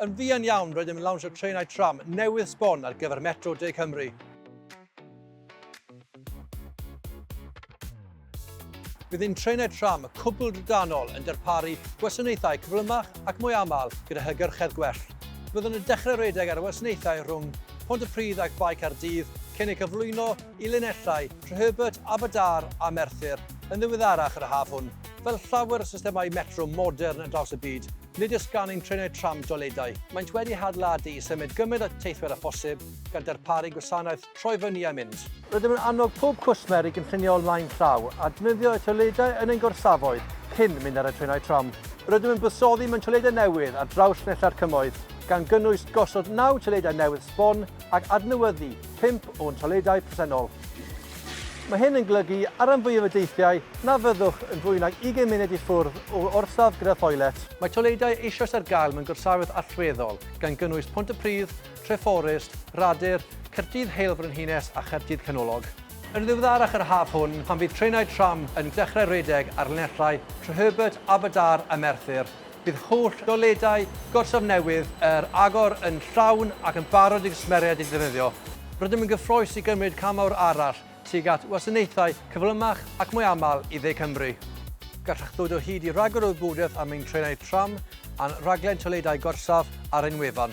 Yn fuan iawn, rydym yn lawnsio trenau tram newydd sbon ar gyfer Metro De Cymru. Bydd ein trenau tram cwbl drydanol yn darparu gwasanaethau cyflymach ac mwy aml gyda hygyrchedd gwell. Byddwn yn dechrau rhedeg ar y wasanaethau rhwng Pontypridd ac Bae Caerdydd cyn eu cyflwyno i linellau Treherbert, Aberdâr a Merthyr yn ddiweddarach yr haf hwn. Fel llawer o systemau metro modern ar draws y byd, Nid oes gan ein trenau tram doiledau. Maent wedi hadeiladu i symud gymaint o teithwyr â phosib, gan darparu gwasanaeth troi fyny a mynd. Rydym yn annog pob cwsmer i gynllunio o flaen llaw a defnyddio y toiledau yn ein gorsafoedd cyn mynd ar y trenau tram. Rydym yn buddsoddi mewn toiledau newydd ar draws nella'r Cymoedd, gan gynnwys gosod naw toiledau newydd sbon, ac adnewyddu pump o'n toiledau presennol. Mae hyn yn golygu ar ran fwyaf y deithiau na fyddwch yn fwy nag 20 munud i ffwrdd o orsaf gyda thoilet. Mae toiledau eisoes ar gael mewn gorsafoedd allweddol, gan gynnwys Pontypridd, Treforest, Radyr, Caerdydd Heil Frenhines a Chaerdydd Canolog. Yn ddiweddarach yr haf hwn, pan fydd trenau tram yn dechrau rhedeg ar linellau Treherbert, Aberdâr a Merthyr, Bydd holl ddoledau Gorsaf Newydd yr Agor yn llawn ac yn barod i gwsmeriaid eu defnyddio. Rydym yn gyffrous i gymryd cam mawr arall tuag at wasanaethau cyflymach ac mwy aml i Dde Cymru. Gallwch ddod o hyd i ragor o wybodaeth am ein trenau tram a'n rhaglen toiledau gorsaf ar ein wefan.